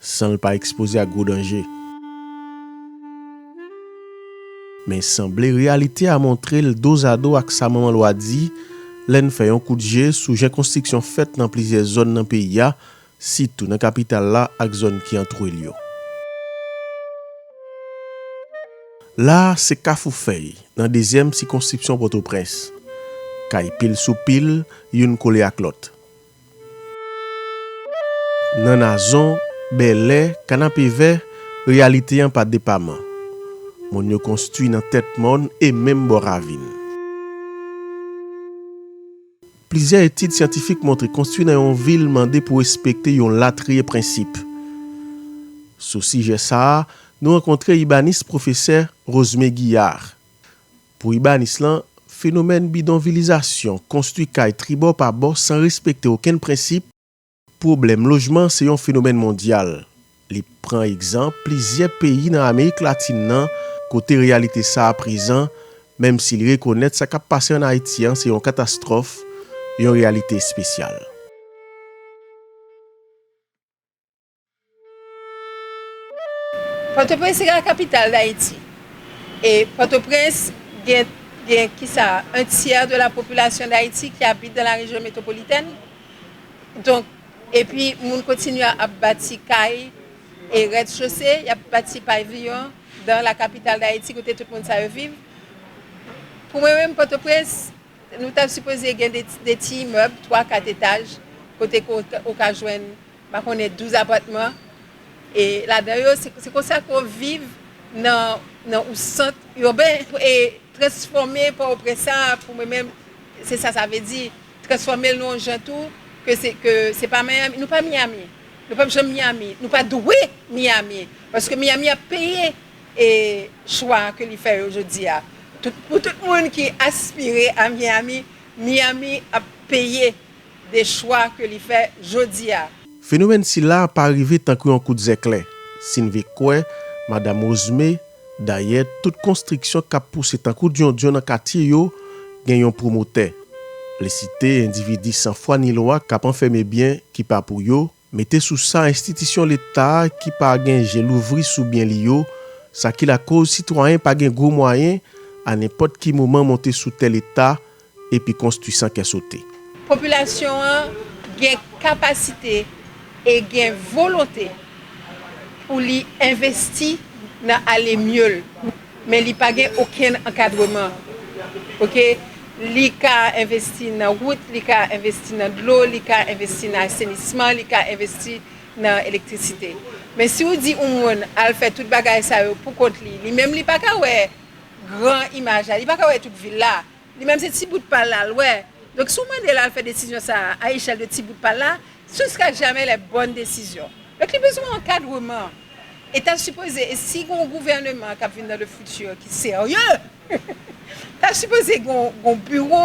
San l pa ekspoze ak gwo danje. Men sanble reyalite a montre l dozado ak sa manman lwa di lè n fè yon kout je sou jan konstriksyon fèt nan plizyè zòn nan peyi a, sitou nan kapital la ak zòn ki antoure l yo. La a se Kafou Fèy, nan dezyèm sikonskripsyon Pòtoprens. Kay pil sou pil, youn kole ak lòt. Nan Nazon, Bèlè, Kanapevè, reyalite an pa depaman. Mòn yo konstwi nan tèt mòn e menm bò ravin. Plizyè etid syantifik montre konstwi nan yon vil mande pou respekte yon latriye prensip. Sou sijè sa a, nou rankontre ibanis pwofesè Rosmé Guillard. Pou ibanis lan, fenomèn bidonvilizasyon, konstwi kay tribò pa bò san respekte okenn prensip, pwoblèm lojman se yon fenomèn mondyal. Li pran egzanp plizyè peyi nan Amerik Latin nan kote reyalite sa a prezan, menm si li rekonèt sa k ap pase an Ayiti an se yon katastwòf, yon reyalite espesyal. Pòtoprens se la kapital Dayiti. E Pòtoprens gen gen ki sa a, un tiers de la population d'Haïti qui habite dans la région métropolitaine. Donk, epi moun kontinye ap bati kay e rez-de-chaussée, y ap bati pavillon dans la capitale d'Haïti kote tout moun sa yo viv. Pou mwen menm Pòtoprens, nou ta sipoze gen de ti imèb, 3, 4 etaj kote ke ou ka jwenn Pa konnen 12 apatman e ladan yo se konsa ke w viv nan ou sant urbain e transfòme pò o prens sa pou mwen menm se sa sa vle di transfòme l nan yon jan tou ke se pa miami nou pa miami nou pap janm miami nou pa dwe miami paske miami ap peye e chwa ke li fè yo jodi a pou tout moun ki aspire a miami miami ap peye de chwa ke li fè jodi a. Fenomèn sila pa rive tankou yon kout zèklè, si n ve kwè Madam Rosmé, dayè tout konstriksyon kap pouse tankou dyondyon nan katye yo gen yon pwomotè. Li site endividi san fwa ni lwa kap anfème byen ki pa pou yo, Mete sou sa enstitisyon leta ki pa gen je louvri sou byen li yo, sa ki lakoz sitwayen pa gen gwo mwayen a nenpòt ki moman monte sou tè leta epi konstwi san kè sote. Popilasyon an gen kapasite e gen volonte pou li envesti nan ale mye l Men li pa gen okenn ankadreman ok li ka envesti nan wout li ka envesti nan dlo li ka envesti nan asenisman li ka envesti nan elektrisite men si ou di yon moun al fè tout bagay sa yo pou kont li li menm li pa ka wè gran imaj la li pa ka wè tout vil la Li menm se ti bout pal la l wè. Donk si w mande l al fè desizyon sa a a echèl de ti bout pal la, ce sera jamais la bonne décision. Donk li bezwen ankadreman. E ta sipoze, e si gen yon gouvèneman k ap vin nan le futur ki serye, ta sipoze gen yon biwo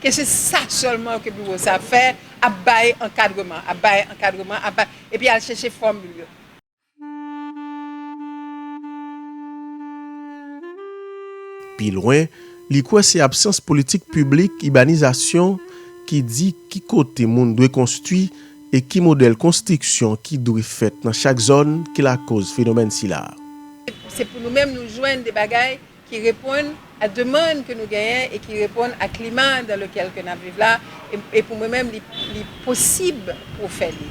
ke se sa sèlman ke biwo sa ap fè, ap bay ankadreman, ap bay ankadreman, ap bay, epi al chèche fòmil yo. Pi lwen, li kwè se absans politik piblik ibanizasyon ki di ki kote moun dwe konstwi e ki modèl konstriksyon ki dwe fèt nan chak zòn ki lakoz fenomèn sila. Se pou nou menm nou jwenn de bagay ki reponn a demand ke nou genyen e ki reponn a klima dans lequel ke nap viv la e pou mwen menm li posib pou w fè li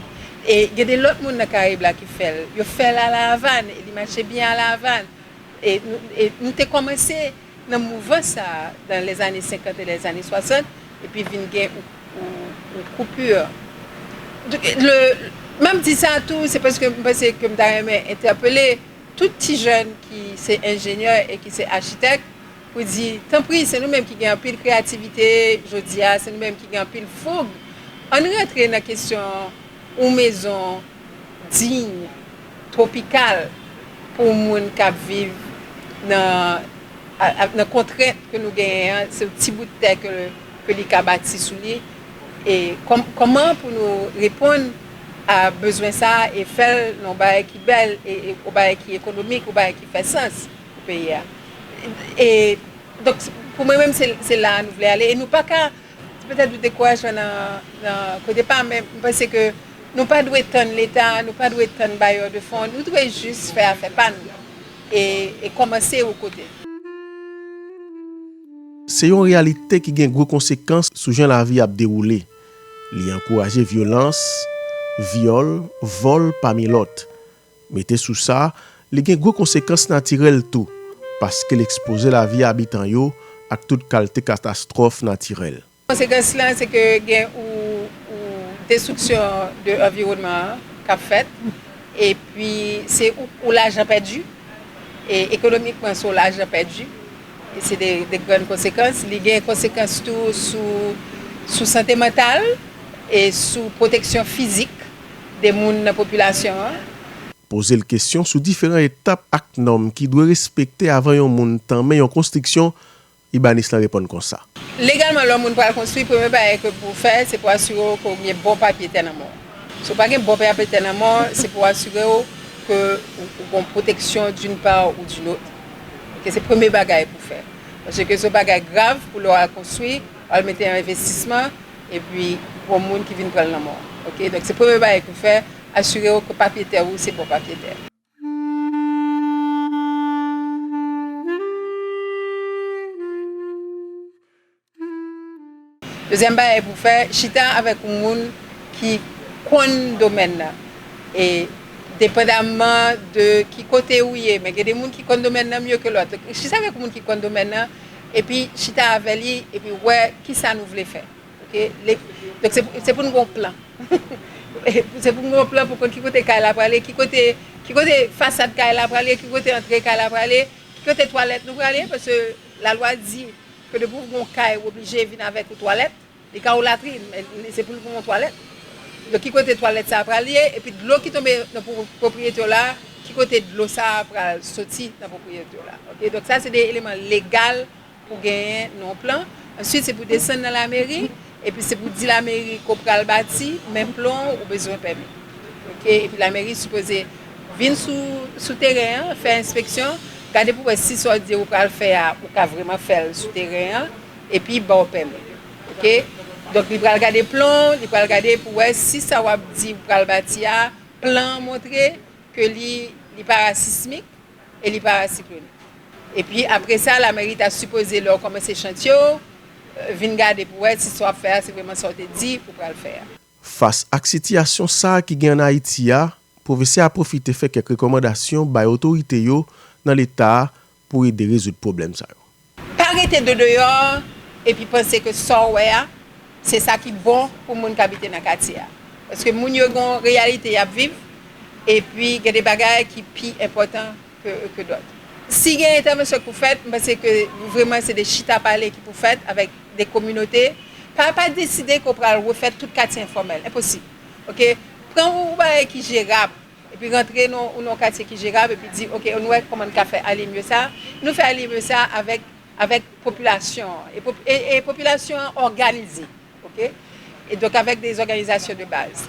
e gen de lòt moun nan Karayib la ki fè l yo fè l a la Avàn e li mache byen a la Avàn e nou te kòmanse nan mouvans sa a dans les années 50 et les années 60 epi vin gen yon coupure map di sa tou se paske m panse ke m ta renmen entèpele. Tout ti jèn ki se enjenyè e ki se achitèk pou di, tanpri, se nou menm ki gen anpil kreyativite jodi a, se nou menm ki gen anpil foug, ann rantre nan kesyon yon mezon diy, twopikal pou moun k ap viv nan kontrent ke nou genyen an, se yon ti bout tè ke li ka bati sou li. E kòman pou nou reponn a bezwen sa a e fè l nan yon bagay ki bèl, yon bagay ki ekonomik, yon bagay ki fè sans pou peyi a. E donk pou mwen menm se la a nou vle ale e nou pa ka, petèt nou dekourajman nan kote pa men m panse ke nou pa dwe tann leta, nou pa dwe tann bayè de fon, nou dwe jis fè afè pa nou e kòmanse yon kote. Se yon reyalite ki gen gwo konsekans sou jan lavi ap dewoule. Li ankouraje vyolans, vyòl, vòl pami lòt. Mete sou sa, li gen gwo konsekans natirèl tou, paske l ekspoze lavi abitan yo ak tout kalte katastwòf natirèl. Konsekans la se ke gen ou destriksyon de anviwònman an k ap fèt e pi se ou lajan pèdi e ekonomikman se ou lajan pèdi e se de grann konsekans. Li gen konsekans tou sou sante mantal e sou pwoteksyon fizik de moun nan popilasyon an. Poze l kesyon sou diferan etap ak nòm ki dwe respekte avan yon moun tanmen yon konstriksyon Ibanez lan reponn konsa. Legalman lè yon moun pral konstwi, premye bagay ke pou ou fè, se pou asire w ke ou gen bon papye tè nan men w. Si ou pa gen bon papye tè nan men w, se pou ou asire w ke ou gon pwoteksyon d'une part ou d'une autre. Ok, se premye bagay pou ou fè. Paske ke se yon bagay grav pou lè w al konstwi, ou al mete yon envestisman, epi gon moun ki vin pran l nan men w. Ok, donk se premye bagay ke ou fè, asire w ke papye tè ou se bon papye tè. Dezyèm bagay pou fè, chita avèk yon moun ki konn domèn nan. E depandamman de ki kote ou ye, men gen de moun ki konn domèn nan mye ke lòt. Chita avèk yon moun ki konn domèn nan, epi chita avè li, epi wè ki sa nou vle fè. Ok donk se pou nou gen yon plan se pou nou gen yon plan pou konn ki kote kay la prale ki kote ki kote fasad kay la prale ki kote antre kay la prale ki kote twalèt nou prale paske la lwa di ke depi ou gen yon kay ou oblije vin avèk yon twalèt li ka yon latrin men se pou l gen yon twalèt donk ki kote twalèt sa prale epi dlo ki tonbe nan pwopriyete w la ki kote dlo sa pral soti nan pwopriyete w la ok donk sa se de eleman legal. Pou genyen non plan, answit se pou desann nan lameri, epi se pou di lameri ke w pral bati, men plan w, ou bezwen pèmi. Ok, epi lameri sipoze vin sou sou teren an, fè enspeksyon, gade pou wè si sa w di ou pral fè a, ou ka vreman fè l sou teren an, epi ba w pèmi. Ok, donk li pral gade plan w, li pral gade pou wè si sa w ap di ou pral bati a, plan an montre ke li li pa sismik, E li pa siklone. E pi apre sa lameri ta sipoze lè w kòmanse chantye w vin gade pou wè si sa w ap fè a se vreman sa w te di ou pral fè a. Fas ak sitiyasyon sa ki gen an Ayiti a, pwofesè a pwofite fè kèk rekòmandasyon bay otorite yo nan leta a pou ede rezoud pwoblèm sa yo. Pa rete do deyò epi panse ke sa w wè a se sa ki bon pou moun k abite nan katye a. Paske moun yo gen yon reyalite y ap viv epi gen de bagay ki pi enpòtan ke dòt. Si gen entèvansyon ki pou fèt, m panse ke vreman se de chita pale ki pou fèt avèk de kominote. Pa pa deside ke w pral refè tout katye enfòmèl. Enposib. Ok. Pran yon bagay ki jerab. epi rantre nou ou nan katye ki jerab epi di ok nou wè kòman nou ka fè ale mye sa nou fè ale mye sa avèk avèk popilasyon e popilasyon an òganize ok e donk avèk de zòganizasyon de baz.